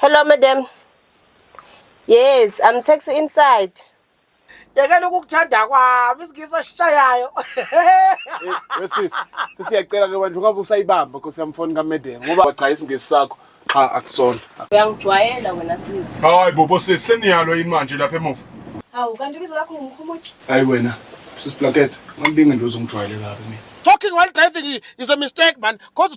Hello madam. Yes, I'm taxi inside. Yekela ukukuthanda kwami isigiso sishayayo. Wesis, sisiyacela ke bantu ngabe usayibamba Nkosi yami phone kaMedem ngoba cha isingisi sakho cha akusona. Uyangijwayela wena sisi. Hayi bobo sisi seniyalo yini manje lapha emuva? Hawu kanti ibizo lakho ngumkhumuthi. Hayi wena sisi Plaket, ngambinge ndoze ngijwayele kabi mina. Talking while driving is a mistake man cause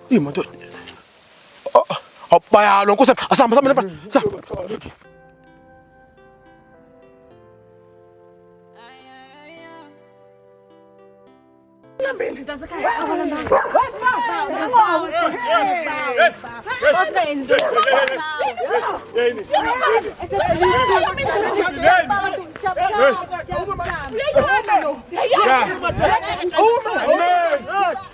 Imoto. Bayalo nkosi asihamba sihamba nefana. Uma! Uma!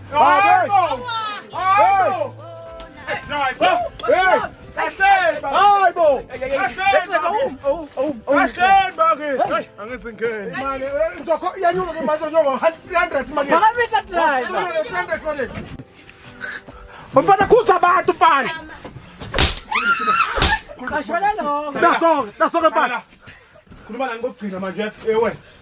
Mfana kuza abantu mfana. Nasoke, nasoke mfana. Khuluma nani kokugcina manje ewe.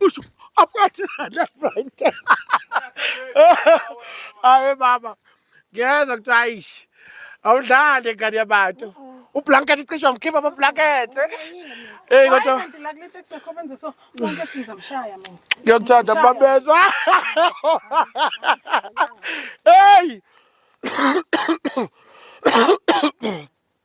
Usho aphakathi left right. Awe baba. Ngiyeza ukuthi ayish. Awudlali ngane yabantu. Ublanket icishwa mkhipha ama blanket. Hey kodwa. Hayi kanti la kule taxi yakho benze so. Bonke ethi ngizamshaya mina. Ngiyakuthanda babezwa. Hey.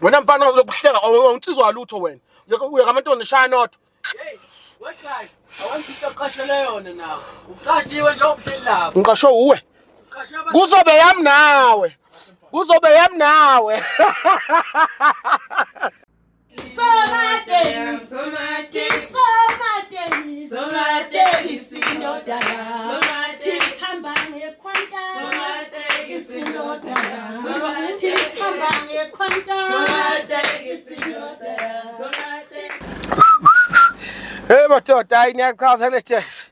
wena mfana lokuhleka awunsizwa lutho wena uyeka amantombazane shaya nodwa ngiqashwe uwe kuzobe yami nawe kuzobe yami nawe Somateni, somateni, somateni, somateni. Hey madoda hayi niyachaza kule sitex.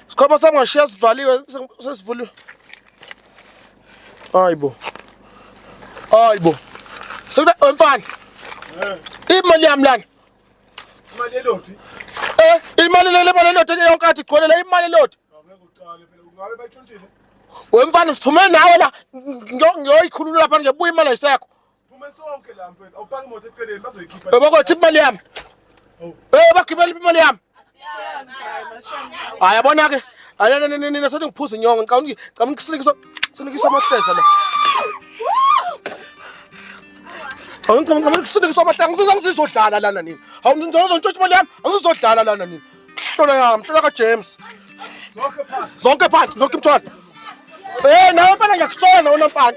Sikhoma sami ngashiya sivaliwe sesivuliwe. Hayibo. Hayibo. Sekuda mfana. Eh. Imali yami lana. Imali elodi. Eh, imali lele imali elodi ke yonke athi gcwele la imali elodi. Ngeke uqale phela ungabe bayitshontile. Wemfana siphume nawe la ngiyoyikhulula lapha ngebuya imali ayisekho. Siphume sonke la mfethu. Awupaki imoto eceleni bazoyikhipha. Baba kwathi imali yami. Oh. Eh, bagibela imali yami. hayi yabona ke nina sothi ngiphuza inyongo ngicabanga ngicabanga ukusilikisa silikisa amahleza la Hawu ngicabanga ngicabanga ukusilikisa amahleza ngizizwa ngizizodlala lana nini hawu ngizozwa ntshontsha imali yami angizodlala lana nini hlola yami hlola ka James zonke phansi zonke phansi zonke imthwalo eh nawe mfana ngiyakusona wena mfana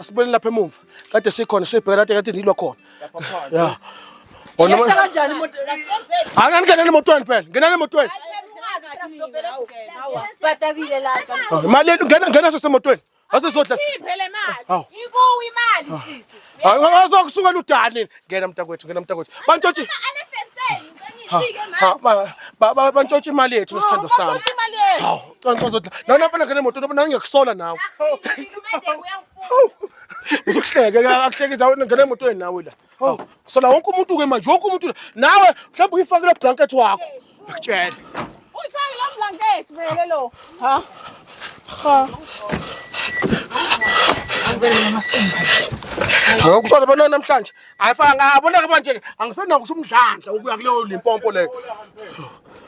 asibuyele lapha emuva kade sikhona sibheka lade kade ndilwa khona ya Wona Yenza manje kanjani imoto? angani ngenani emotweni phela ngenani emotweni Batabile la. Ah, imali yenu ngena ngena sesemotweni asizodla Iphele imali. Hawu. Ikuwe imali sisi. azokusuka ludani ngena mntakwethu ngena mntakwethu bantshotshi Ale fenseni. Sengifike manje. ha, ba- ba- ba- bantshotshi imali yethu nesithando sami Uthi imali yethu. hawu Canca uzodla. Nawe nafana ngene moto noma nawe ngiyakusola nawe. Uzokuhleke akuhleke zawe ngene emotweni nawe la. Hawu, sola wonke umuntu ke manje, wonke umuntu la. Nawe mhlawumbe uyifakile blanket wakho. Ngikutshela. Uyifake lo blanket vele lo. Ha? Ha. Ngokushona bona namhlanje ayifanga abona ke manje angisenakusho umdlandla ukuya kuleyo limpompo leyo.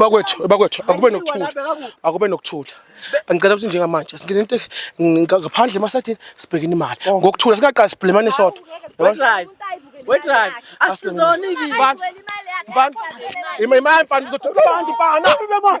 bakwethu bakwethu akube nokuthula akube nokuthula angicela ukuthi njengamanje singene into ngaphandle emasathini sibhekene imali oh. ngokuthula singaqali sibhlemane sodwa wedrive asizoni mfana imali mfana uzothola abantu mfana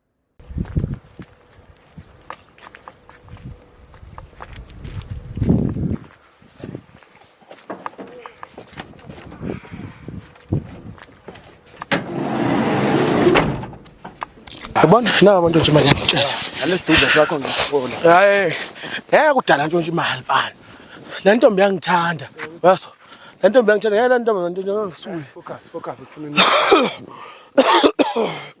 Yabona na abantu nje manje ngitshela. Nalesidudla sakho ngisifona. Hayi. Ngeke kudala nje imali mfana. Le ntombi yangithanda. Yaso. Le ntombi yangithanda. Ngeke le ntombi nje ngisule. Focus, focus ufuna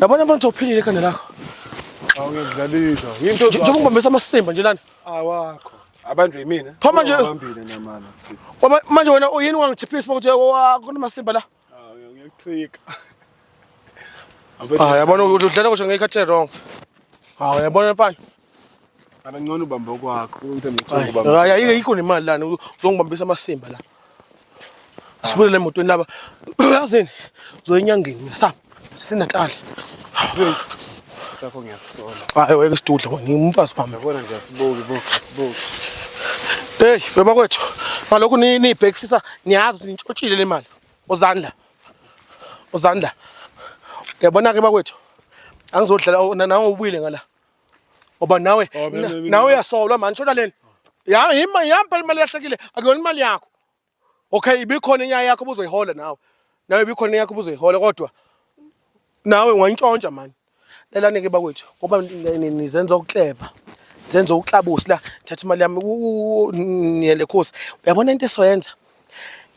Yabona mfana uphilile ekhanda lakho. Awuyedlalisa. Yinto njengoba ungibambisa amasimba nje lana. Awakho. Abantu yimina. Pha manje ubambile namana. Manje wena uyini wangithiphisa ukuthi kunamasimba la? Awu ngiyakutrika. Ah yabona udlala kusho ngekhathi wrong. Hawu yabona mfana. Abangcono ubamba okwakho into ngicela ubamba. Hayi ayike ikho nemali lana uzongibambisa amasimba la. Asibulele emotweni laba. Yazini zoyinyangeni mina sa sinatal. Sakho ngiyasola. Hayi weke sidudla wena ngimfazi wami. Yabona nje asibuki bo asibuki. Hey baba kwethu malokhu ni ni backsisa niyazi ukuthi nitshotshile le mali. Uzani la? Uzani la? Uyabona ke bakwethu angizodlala nawe ubuyile ngala. Oba nawe Oh, mina- na- mina- nawe uyasolwa manje shoda leni. Ya yima yampa imali yahlekile akuyona imali yakho. Okay ibikhona inyaya yakho ubuzoyihola nawe. Nawe ibikhona inyaya yakho ubuzoyihola kodwa nawe ungayintshontsha manje. Lelani ke bakwethu ngoba ni- ni- nizenza ukukleva. Zenza ukuklabusi la thatha imali yami u- u- u- niyele khosi. Uyabona into esoyenza?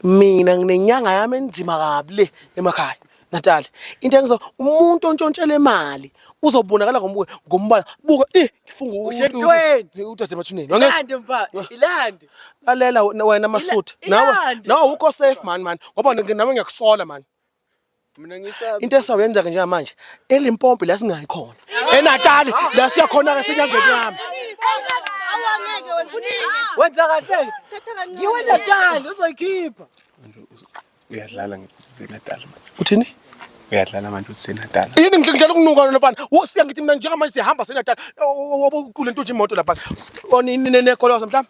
mina nginenyanga yami enzima kabi le emakhaya Natal into engizo umuntu ontshontshela imali uzobonakala ngomuke ngombala buka eh ngifunga ushentweni udade mathuneni ilande mfa ilande lalela wena masutha nawe nawe ukho safe man man ngoba nami ngiyakusola man Mina ngisabi. Into esawenza ke njengamanje eLimpopo la singayi khona. ENatali la siya khona ke sinyangeni yami. Awangeke wena kunini? Wenza kahle. Yiwe Natali uzoyikhipha. Uyadlala ngiseNatal manje. Uthini? Uyadlala manje useNatal. Yini ngidlala ukunuka lona mfana. Usiya ngithi mina njengamanje sihamba seNatal. Obukule ntuthu imoto lapha. Onini nekolosa mhlawumbe.